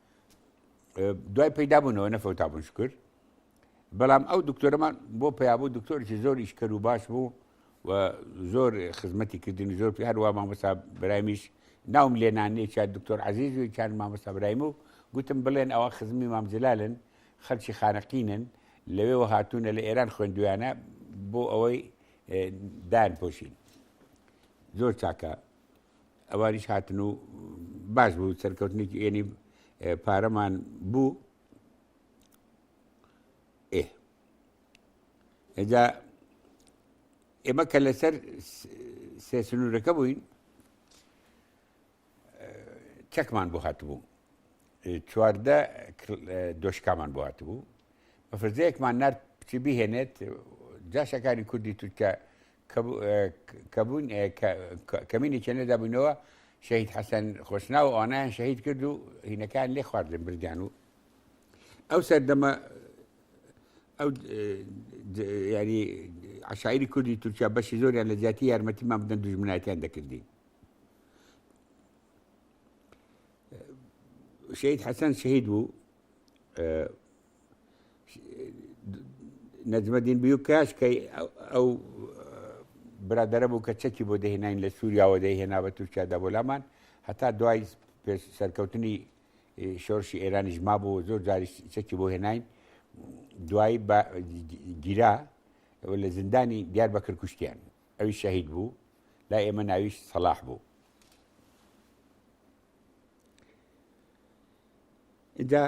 دوای پەیدا بوونەوە نەفەوتا بوون شکر بەڵام ئەو دکتۆرەمان بۆ پیابوو دکتۆرێکی زۆریش کەر و باش بوو و زۆر خزمەتی کردنی زۆر پێ هەروە مامۆستا برایمیش ناوم لێنانێ چا دکتۆر عزیز و چند مامۆستا برایم و گوتم بڵێن ئەوە خزمی مامجلالن خەلکی خانەقینن لەوێەوە هاتوونە لە ئێران خوێندویانە بۆ ئەوەی دان پۆشین زۆر چاکە ئەوانیش هاتن و باش بوو سەرکەوتنێکی ئێنی پارەمان بوو ئێ ئەجا ئێمە کە لەسەر سێ سنوورەکە بووین چەکمان بۆ هاتبوو چواردە دۆشکامان بۆ هاتبوو بەفرزەیەکمان نرد بچی بهێنێت جاشەکانی کوردی تورکە کەبوون کەمینی چێنەدا بوونەوە شەهید حەسەن خۆشنا و ئەوانیان شەهید کرد و هینەکان لێ خواردن بردیان و ئەو سەردەمە ئەو ینی عشاعری کوردی تورکیا بەشی زۆریان لە زیاتی یارمەتیمان بدەن دژمنایەتیان دەکردین شەید حەسەن شەید بوو نەجمەدین بیوکاش کە ئەو برادەرە بوو کە چەکی بۆ دەهێنین لە سووریاوە دەهێنا بە تورکیادا بۆ لامان هەتا دوای پێش سەرکەوتنی شۆرشی ئێرانیش ما بوو زۆر جاری چەکی بۆ هێنین دوایی گیرا لە زیندانی دیار بە کرکوشتیان ئەوی شەهید بوو لا ئێمە ناویش سەلاح بوو دا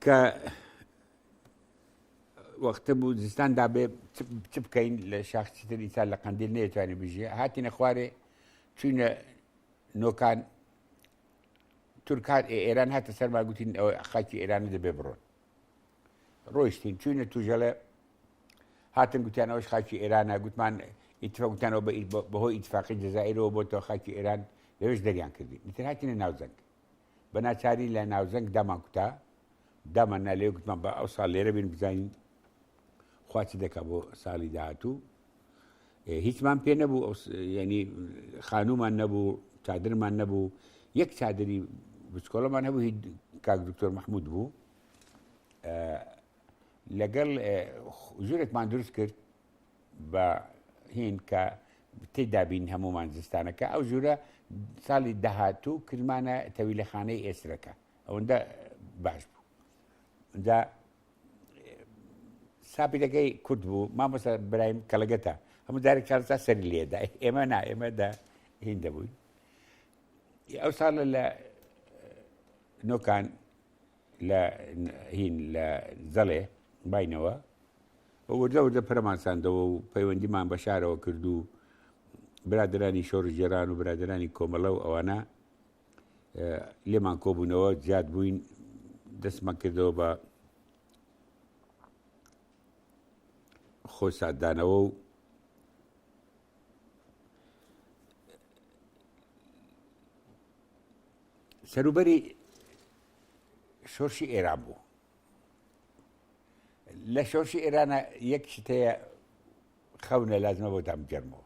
کە وەختە بوو زستان دابێ چ بکەین لە شاخچی تر ئینسان لە قندیل نێتوانانی بژێ هاتینە خوارێ چوینە نۆکان تورکان ئێران هاتە سەرما گوتین ئەوە خاکی ئێران دەبێ بڕۆن ڕۆیشتین چوینە توژەڵێ هاتن گوتیان ئەوش خاکی ئێرانە گوتمان ئیتفا گوتانەوە بە بەهۆی ئیتفاقی جززائرەوە بۆ تۆ خاکی ئێران لەوێش دەریان کردی ئیتر هاتینە ناوزەنگ بە ناچاری لە ناوزەنگ دامان کوتا دامان نالێ گوتمان بە ئەو ساڵ لێرە بین بزانین خواچ دەکە بۆ ساڵی داهاتوو هیچمان پێ نەبوو ینی خانومان نەبوو چادرمان نەبوو یەک چادری بچکۆڵەمان هەبوو هی کاک دکتۆر مححمود بوو لەگەڵ ژورێکمان دروست کرد بە هین کە تی دابین هەمومان زستانەکە ئەو ژوورە ساڵی داهاتوو کردمانە تەویلەخانەی ئێسرەکە ئەوەندە باش بوو دا سابیرەکەی کورد بوو مامۆستا برایم کەڵگەتە هەموو دارێک چارسا سەری لێدا ئێمە نا ئێمەدا هین دەبووین ئەو ساڵە لە نۆکان لە هین لە زەڵێ باینەوە وردە وردە پەرمانساندەوە و پەیوەندیمان بە شارەوە کردو برادرانی شۆڕژێران و برادرانی کۆمەڵە و ئەوانە لێمان کۆبوونەوە زیاد بووین دەستمان کردەوە بە خۆی سادانەوە و سەروبەری شۆرشی ئێران بوو لە شۆرشی ئێرانە یەک شتەیە خەونە لازمە بۆ دامگەرمەوە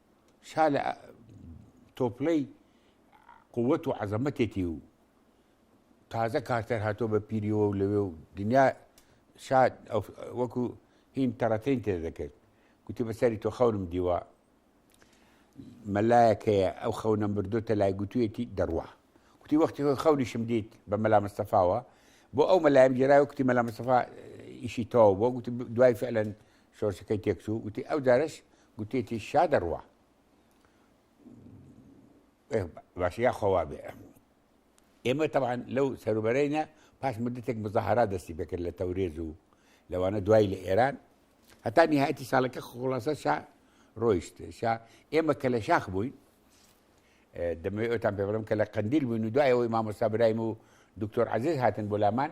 شا لە تۆپڵەی قوت و عەزەمەتێتی و تازە کارتەر هاتۆ بە پیریەوە و لەوێ و دنیا شاد وەکو هین تەڕەتین تێ دەکرد گوتی بەسەری تۆ خەونم دیوە مەلایەکەیە ئەو خەونە مردۆتە لای گوتوێتی دەڕوە کوتی وەختی خۆی خەونیشم دیت بە مەلا مستەفاوە بۆ ئەو مەلایم جێراوە کوتی مەلا مستەفا ئیشی تەواو بۆ گوتی دوای فعلەن شۆرشەکەی تێکچوو گوتی ئەو جارش گوتێتی شا دەڕوا باش یا خەوا بێ ئێمە تەوان لەو سەروبەرینە پاش مدتێک مزەهرا دەستی پێکرد لە تەورێز و لەوانە دوای لە ئێران هەتا نهایەتی ساڵەکە خۆڵاسە شا ڕۆیشت شا ئێمە کە لە شاخ بووین دەمەوێت ئەوتان پێ بڵم کە لە قندیل بووین و دوایەوەی مامۆستا برایم و دکتۆر عزیز هاتن بۆ لامان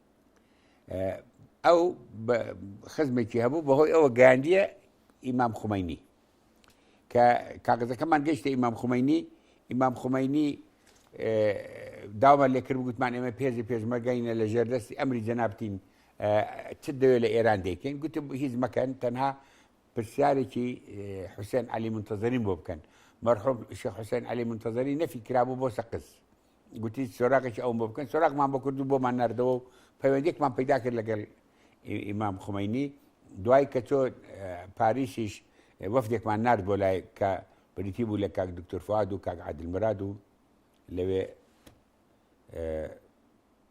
ئەو خزمێکی هەبوو بەهۆی ئەوە گاندیە ئیمام خمەینی کە کاغزەکەمان گەشتە ئیمام خمەینی ئیمام خمەینی داوامە لێکرد گوتمان ئێمە پێزی پێشمەرگەینە لە ژێردەستی ئەمری جەنابتین چ دەوێت لە ئێران دەکەین گوتم هیچ مەکەن تەنها پرسیارێکی حوسێن علی منتەزرین بۆ بکەن مەرحوم شێخ حوسێن علی منتەزری نەفی کرابوو بۆ سەقز گوتی سۆراقێکی ئەوم بۆ بکەن سۆراقمان بۆ کردو بۆمان نردەوە و پەیوەندێکمان پیدا کرد لەگەل ئیمام خمەینی دوای کە تۆ پاریسیش وەفدێکمان نرد بۆ لای کە بریتی بوو لە کاک دکتۆر فواد و کاک عادل مراد و لەوێ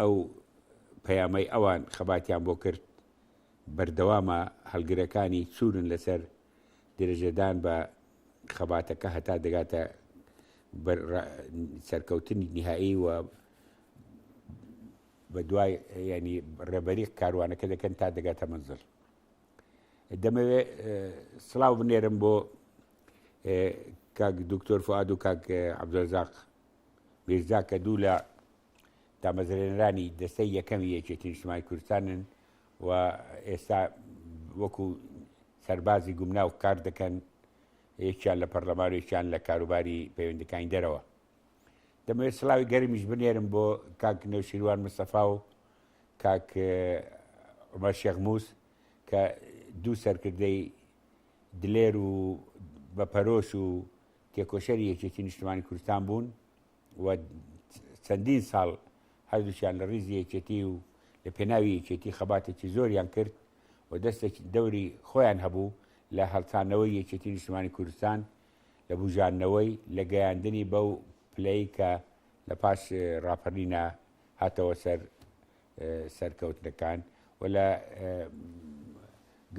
ئەو پەیامەی ئەوان خەباتیان بۆ کرد بەردەوامە هەڵگرەکانی چورن لەسەر درێژەدان بە خەباتەکە هەتا دەگاتە سەرکەوتنی نهایی و بە دوای ینی ڕێبەری کاروانەکە دەکەن تا دەگاتە منزل دەمەوێ سلااو بنێرم بۆ کاک دکتۆر فعاد و کاک عبدزاق میرزا کە دوو لە دامەزرێنەرانی دەستەی یەکەمی یەکێتی نیشتمانی کوردستانن و ئێستا وەکو سەربازی گومناو کار دەکەن یەکیان لە پەرلەمان و یەکیان لە کاروباری پەیوەندەکانی دەرەوە دەمەوێت سلاوی گەرمیش بنێرم بۆ کاک نێوشیروان مستەفا و کاک عمر شێخ موس کە دوو سەرکردەی دلێر و بە پەرۆش و تێکۆشەری یەکێتی نیشتمانی کوردستان بوون و چەندین ساڵ هەردووچیان لە ڕیزی یەکێتی و لە پێناوی یەکێتی خەباتێکی زۆریان کرد و دەستێک دەوری خۆیان هەبوو لە هەڵچانەوەی یەکێتی نیشتمانی کوردستان لە بژاندنەوەی لە گەیاندنی بەو پلەی کە لە پاش ڕاپەرینە هاتەوە سەر سەرکەوتنەکان و لە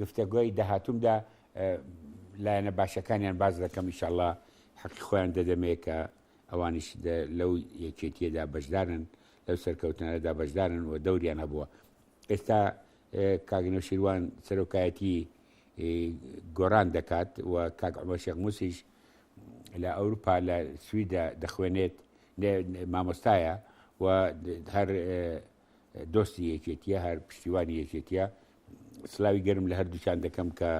گفتەگوۆی داهاتومدا لایەنە باشەکانیان باز دەکەم ئیشاءله حەقی خۆیان دەدەمێ کە ئەوانیش لەو یەکێتیەدا بەشدارن لەو سەرکەوتنەدا بەشدارن و دەوریان هەبووە ئێستا کاگنە شیروان سەرۆکایەتی گۆران دەکات و کاک عمە شێخ موسیش لە ئەوروپا لە سویدا دەخوێنێت مامۆستایە و هەر دۆستی یەکێتیە هەر پشتیوانی یەکێتیە سلاوی گەرم لە هەردووچان دەکەم کە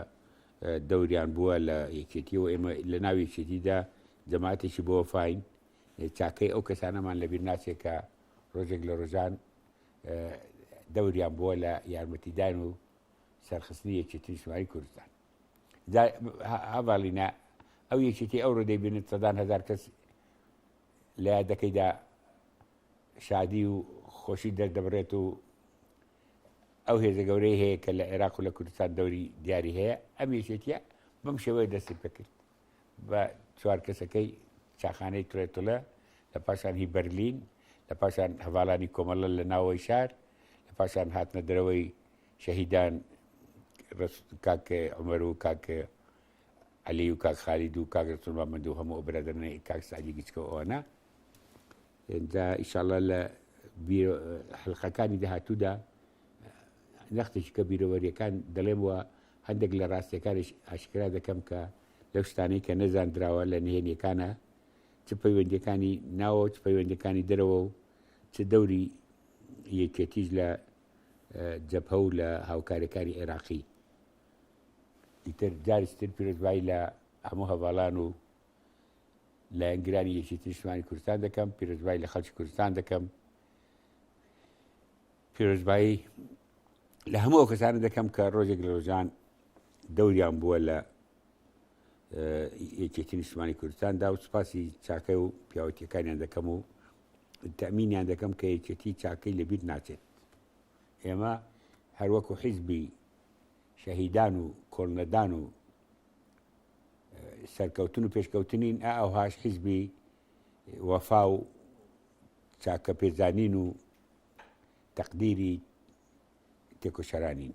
دەوریان بووە لە یەکێتی و ئێمە لە ناو یەکێتیدا جەماعاتێکی بۆ فین چاکەی ئەو کەسانەمان لەبیر ناچێت کە ڕۆژێک لە ڕۆژان دەوریان بووە لە یارمەتیدان و سەرخستنی یەکێتی شواری کوردستان جا هەڤاڵینە ئەو یەکێتی ئەوڕۆ دەیبینێت سەدان هزار کەس لە یادەکەیدا شادی و خۆشی دەست دەبڕێت و ئەو هێزە گەورەی هەیە کە لە عێراق و لە کوردستان دەوری دیاری هەیە ئەم یەکێتیە بەم شێوەیە دەستی پێکرد بە چوار کەسەکەی چاخانەی ترێتڵە لە پاشان هی بەرلین لە پاشان هەواڵانی کۆمەڵە لە ناوەوەی شار لە پاشان هاتنە درەوەی شەهیدان کاک عمر و کاک علی و کاک خالید و کاک رسول محمد و هەموو برادرنە کاک سعدی گچکە ئەوانە دا ئیشاڵە لە حلقەکانی داهاتوودا نەختێکی کە بیرەوەریەکان دەڵێم وە هەندێک لە ڕاستیەکانش ئاشکرا دەکەم کە لەو شتانەی کە نەزاندراوە لە نهێنیەکانە چ پەیوەندەکانی ناوە چ پەیوەندەکانی دەرەوە و چ دەوری یەکێتیش لە جەبهە و لە هاوکاریەکانی عێراقی ئیتر جاریشتر پیرۆزبایی لە هەموو هەواڵان و لایەنگرانی یەکێتی نیشتمانی کوردستان دەکەم پیرۆزبایی لە خەڵکی کوردستان دەکەم پیرۆزبایی لە هەموو کەسانە دەکەم کە ڕۆژێک لە ڕۆژان دەوریان بووە لە یەکێتی نیشتمانی کوردستاندا و سوپاسی چاکە و پیاوەتیەکانیان دەکەم و تەمینیان دەکەم کە یەکێتی چاکەی لەبیر ناچێت ئێمە هەروەکو حیزبی شەهیدان و کۆڵنەدان و سەرکەوتن و پێشکەوتنین ئا ئەوهاش حیزبی وەفا و چاکە پێزانین و تەقدیری تێکۆشەرانین